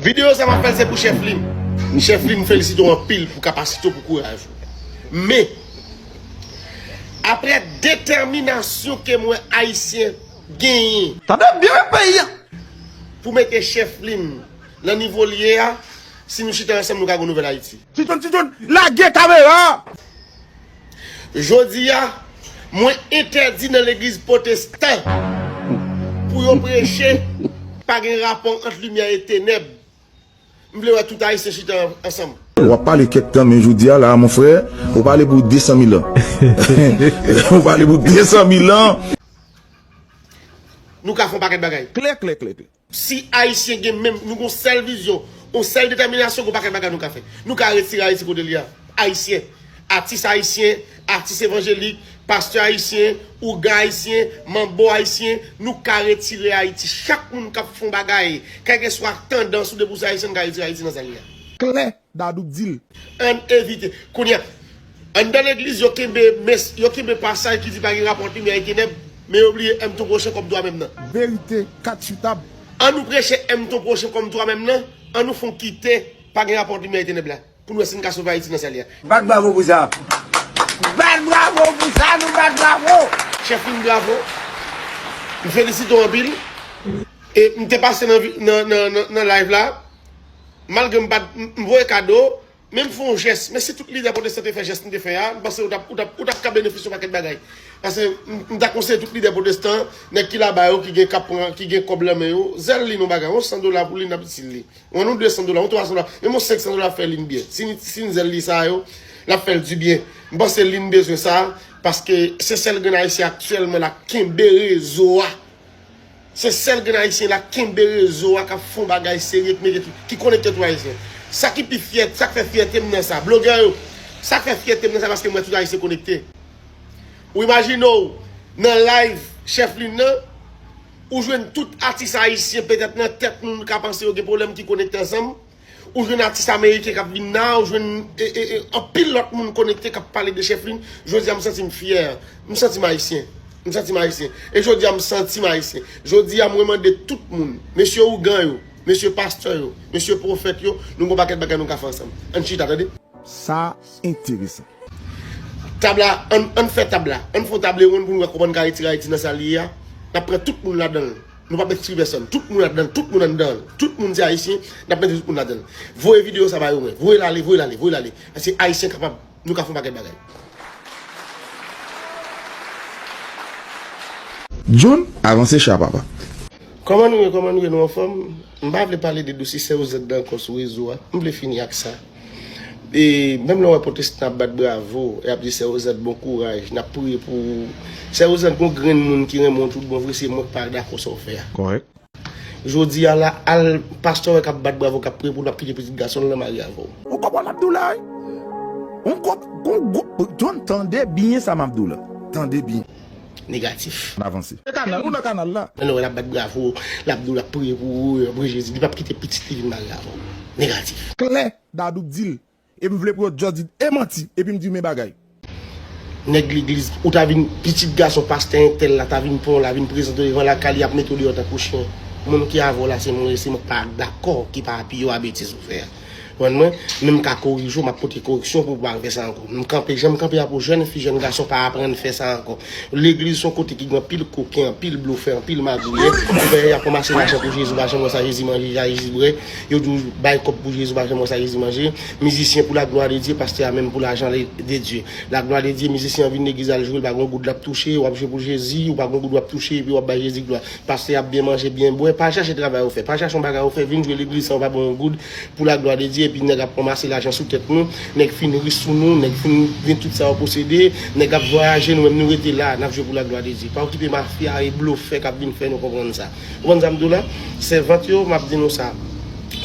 Video sa map fèl se pou chèf li. Chèf li m felisite w anpil pou kapasite w pou kouraj ou. Men, aprè detèminasyon ke m wè Ayisyen genyen. Tande byen men peyi an! Pou mete chèf li m nan nivo l ye a, si nou chita ansanm nou ka gen yon nouvèl Ayiti. Ti John, Ti John, lage kamera a! Jodi a, mwen entèdi nan legliz potestan pou yo preche pa gen rapò ant limyè e tenèb. M vle wè tout Ayisyen chita ansanm. Wap pale kèk tan men jodi a la a mon frè ou pale pou 200 mil an. Ou pale pou 200 mil an. Nou ka fè yon pakèt bagay. Klè klè klè klè. Si Ayisyen gen menm, nou gen yon sèl vizyon, yon sèl detèminasyon, gen yon pakèt bagay nou ka fè. Nou ka retire Ayiti kote li a. Ayisyen, atis ayisyen, atis evanjelik, pastè ayisyen, ougan ayisyen, manbo ayisyen, nou ka retire Ayiti. Chak moun k ap fè yon bagay, kèlkeswa tandans ou depi ou se Ayisyen, nou ka retire Ayiti nan sa li a. Klè, Dadou k dil. Ann evite. Kounya, anndan legliz yo kenbe mes, yo kenbe pasaj ki di pa gen rapò ant limyè e tenèb, men yo bliye èm ton pwochen kòm twamèm nan. Verite ka tchoutab. An nou preche èm ton pwochen kòm twamèm nan, an nou fon kite pa gen rapò ant limyè e tenèb la, pou nou wè si n ka sove Ayiti nan sa l ye a. Bat bravo pou sa. Bat bravo pou sa nou bat bravo. Chef Min bravo. M felisite w anpil. E m te pase nan nan nan live la. Malgre m pa m voye kado, men m fè yon jès. Men si tout lidè pwotestan te fè jès m te fè a, m panse ou t ap ka benefisye yon pakèt bagay. Pase m ta konseye tout lidè pwotestan, nèg ki laba yo, ki gen k ap pran, ki gen kòb lan men yo, zèl lin yon bagay. Yon san dola pou lin n ap itil li. Yon wan yon de san dola, yon twa san dola, menm yon senk san dola ap fè lin byen. Si n zèl li sa yo, l ap fè l dibyen. M panse lin bezwen sa, paske se sèl grenn Ayisyen aktyèlman la k kenbe rezo a. Se sèl grenn ayisyen la kenbe rezo a kap fon bagay serye k mete tout ki konekte tout ayisyen sa ki pi fyè sak fè fyète m nan sa blogè yo sak fè fyète m nan sa paske m wè tout ayisyen konekte ou imajine w nan layv chèf lin nan ou jwenn tout atis ayisyen petèt nan tèt nou nou ka panse yo gen pwoblèm ki konekte ansanm. Ou jwenn atis ameriken kap vin la, ou jwenn anpil lòt moun konekte kap pale de chèflin, jodi a m santi m fyè, m santi m ayisyen, m santi m ayisyen, e jodi a m santi m ayisyen. Jodi a mwen mande tout moun, mesye ougan yo, mesye pastè yo, mesye pwofèt yo, nou gon pakèt bagay nou ka fè ansanm. Ann chita tande. Sa enteresan. Tab la, ann fè tab la, ann fè yon table ronde pou nou wè kòman n ka retire Ayiti nan sa l ye a, n ap pran tout moun ladan l. Nou pap ekskli pèsòn. Tout moun ladan l. Tout moun anndan l. Tout moun se Ayisyen. N ap mete tout moun ladan l. Voye videyo sa ba yo mwen. Voye l ale. Voye l ale. Voye l ale. Paske Ayisyen kapab. Nou ka fè yon pakèt bagay. John, avanse cha papa. Kòman nou ye kòman nou ye nou anfòm? M pa vle pale de dosye sèozèdda ankò sou rezo a. M vle fini ak sa. E menm lè wè potestan ap bat bravo e ap di sè Rosant bon kouraj nap priye pou ou sè Rosant gon grenn moun ki renmen w tout bon vre se mwen ki pa dakò sa w fè a. Kòrèk. Jodi a la al pastè wè kap bat bravo kap priye pou w lap kite pitit gason l lan marye avè w. Ou konprann map di w la wi. Gon gwoup, tande byen sa map di w la. Tande byen. negatif. N avanse. E kanal, ou nan kanal la. Nan nou wè lap bat bravo, lap di w lap priye pou ou, lap priye Jezi, li pap kite pitit li vin mare avè w. Negatif. Klè, Dadou k di l. E m vle pou yo just di e manti, epi m di men bagay. Nèg legliz, ou ta vin pitit gason pastè entèl la, ta vin pran w la, vin prezante w devan lakay li, yap mete w deyò tankou chyen. Moun ki avè w la se moun, se moun k pa dakò, ki pa apiye w a betiz ou fè a. Konprann mwen? Men m ka korije w, m ap pote koreksyon pou ou pa refè sa ankò. M kanpe jan m kanpe a pou jèn fi, jèn gason pa aprann fè sa ankò. Legliz s on kote ki gen anpil koken, anpil blofè, anpil magouyè. Ou wè y ap ranmase lajan pou Jezi, ou pa janm wè sa Jezi manje, sa Jezi bwè. Yo di w bay kòb pou Jezi, ou pa janm wè sa Jezi manje. Mizisyen pou laglwa de Dye, pastè a menm pou lajan de Dye. Laglwa de Dye, mizisyen an vin legliz al jwe, l pa gen yon goud l ap touche, w ap jwe pou Jezi, ou pa gen yon goud w ap touche epi w ap bay Jezi glwa. Pase ap byen manje byen bwè, pa chache travay ou fè, pa chache yon bagay ou fè, vin jwe legliz san ou pa ban yon goud pou la glwa de Dye epi nèg ap ranmase lajan sou tèt nou, nèg fin ri sou nou, nèg fin gen tout sa yo posede, nèg ap vwayaje nou menm nou rete la nap jwe pou la glwa de Dye. Pa okipe mafya e blofè kap vin fè nou konprann sa. Ou konprann sa m di w la? Sèvant yo map di nou sa,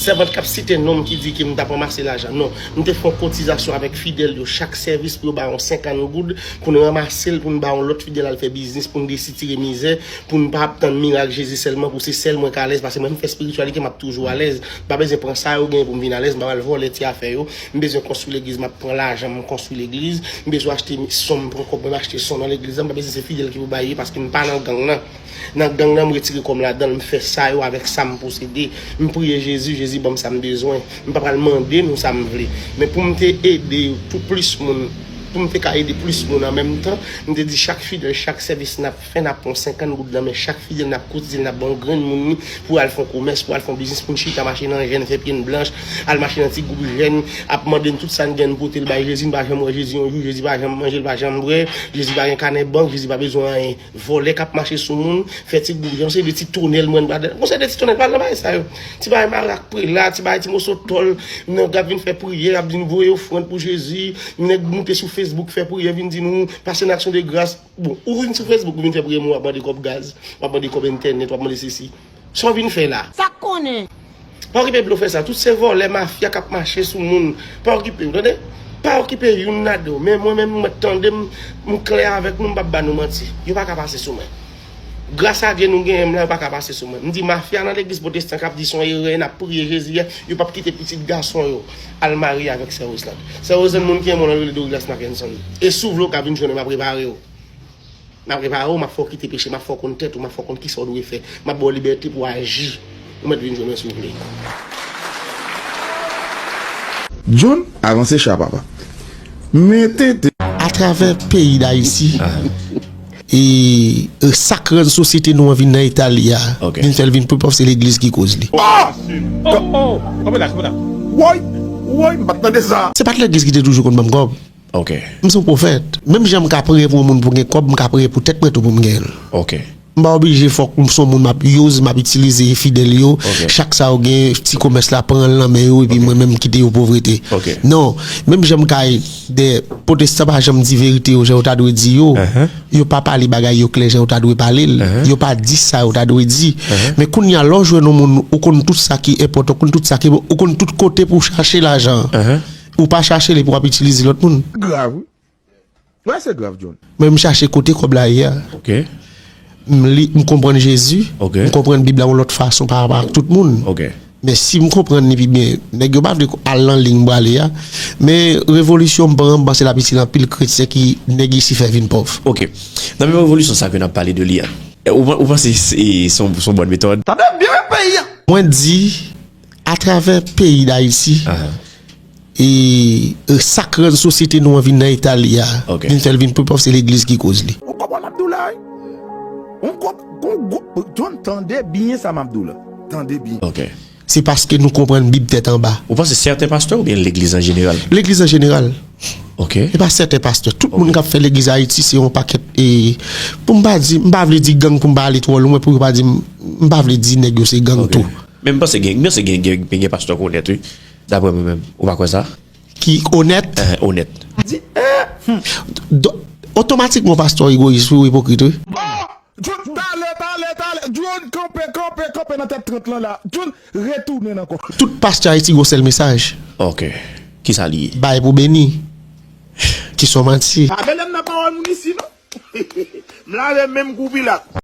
sèvant kap site non m ki di ke m tap ranmase lajan non, m te fè yon kotizasyon avèk fidèl yo chak sèvis pou yo ba yon 50 goud pou n ranmase l pou n ba yon lòt fidèl al fè biznis pou n desitire mizè pou m pa ap tann mirak Jezi sèlman pou se sèl mwen k alèz pase mwen m fè spirityalite m ap toujou alèz m pa bezwen pran sa yo genyen pou m vin alèz m pap al vòlè ti afè yo m bezwen konstwi legliz m ap pran lajan m konstwi legliz m bezwen achte son m pran kòb mwen m achte son nan legliz la m pa bezwen se fidèl ki pou bay li paske m pa nan gang nan nan gang nan m retire kò m ladan l m fè sa yo avèk sa m posede m priye Jezi Jezi ban m sa m bezwen m pa pral mande nou sa m vle men pou m te ede pou plis moun pou m te ka ede plis moun an menm tan m te di chak fidèl chak sèvis n ap Fè nap pran 50 goud nan men chak fidèl nap kotizel nap banl grenn moun li pou al fon komès pou al fon biznis poun chita mache nan jèn fè pyen blanch al mache nan ti group jèn ap mande'n tout sa'n gen'n potel bay Jezi n'pa janm wè Jezi yon jou Jezi pa janm manje'l pa janm bwè Jezi pa gen kanè bank Jezi pa bezwen anyen vòlè kap mache sou moun fè ti group jèn se de ti tonèl mwen m'padan bon se de ti tonèl pa'l nan bagay sa yo ti bagay marak prela ti bagay ti moso tòl nèg kap vin fè priyè ap vin voye ofrand pou Jezi nèg moute sou Facebook fè priyè vin di nou pase n'aksyon de gras Bon, ou vin sou Facebook ou vin fè priye moun wap mande kòb gaz, wap mande kòb entènèt, wap mande sesi. Sa w vin fè la? Sak konnen? Pa okipe blofè sa, tout se vòlè mafya kap mache sou moun, pa okipe yo tande, pa okipe youn ladan yo, men mwen menm nou mèt tande m, m klè avèk nou m pap ba nou manti, yo paka pase sou mwen. Gras a Dye nou genyen m la yo paka pase sou mwen. M di mafya nan legliz pwotestan kap di son erè nap priye Jezi a, yo pap kite pitit gason yo. Al marye avèk sè Roselande. Sè Roselande moun ki renmen w lan yo rele Douglas Mackenson. E si w vle w ka vin jwenn mwen map repare w. Map repare w, map fè w kite peche, map fè w konn tèt ou, map fè w konn kisa w dwe fè. Map ba w libète pou w aji. Ou mèt vin jwenn mwen si w vle. John, avanse cha papa. Mete. Atravè peyi Dayiti. E sak rann sosyete nou an vin nan eta li a, vin fèl vin pi pòv se legliz ki koz li. Se pat legliz ki te toujou konn banm kòb. M se yon pwofèt. Menm jan m ka priye pou yon moun pou gen kòb, m ka priye pou tèt mwen tou pou m gen l. M pa oblije fòk m son moun map use, map itilize fidèl yo, chak sa yo gen ti komès la pran nan men yo epi mwen menm kite yo povrete. Non, menm jan m ka. 2 potestan pa janm di verite yo jan yo ta dwe di yo yo pa pale bagay yo klè jan yo ta dwe pale l yo pa di sa yo ta dwe di men kounye a lè w jwenn yon moun ou konn tout sa ki enpòtan ou konn tout sa ki bon ou konn tout kote pou w chache lajan an ou pa chache l epi w ap itilize lòt moun. Grav wi. Bagay sa grav John. Mwen m chache kote kob la ye a. Ok. M li, m konprann Jezi. Ok. M konprann bib la yon lot fason pa rapò ak tout moun. Ok. Men si m konprann li pi byen, nèg yo pa vle al nan liy m prale a. Men revolisyon m pran an, m panse l ap itil anpil kretyen ki nèg isi fè vin pòv. Ok. Nan menm revolisyon sa ke n ap pale de li a, ou panse se se yon bòn metòd? Tande byen peyi a! Mwen di, atravè peyi Dayiti. Ahan. E sak rann sosyete nou an vin nan eta li a, vin fèl vin pi pòv se legliz ki koz li. Ou konprann map diw la wi? Ou konprann, John tande byen sa map diw la, tande byen. Se paske nou konprann bib tèt anba. Ou panse sèten pastè oubyen legliz an jeneral? Legliz an jeneral. Ok. Se pa sèten pastè. Tout moun kap fè legliz ayiti se yon pakèt e, poum pa di, m pa vle di gang poum pa ale twò lwen pou yo pa dim, m pa vle di nèg yo se gang tou. Ok. Men m panse gen, m panse gen gen gen pastè k'onèt wi. Daprè mwen menm, ou pa kwè sa? Ki onèt? Ehe, onèt. Di ee! Don, otomatikman w pastè w egoyis wi, w ipokrit wi. Oh! Jhon, tale, tale, tale! Jhon, kanpe, kanpe, kanpe nan tèt 30 lan la! Jhon, retounen ankò. Tout pastè Ayiti gen yon sèl mesaj. Ok. Ki sa li ye? Bay pou beni. Ki son manti. Pa mele m nan pawòl moun isi non. M lave men m kou Pilat.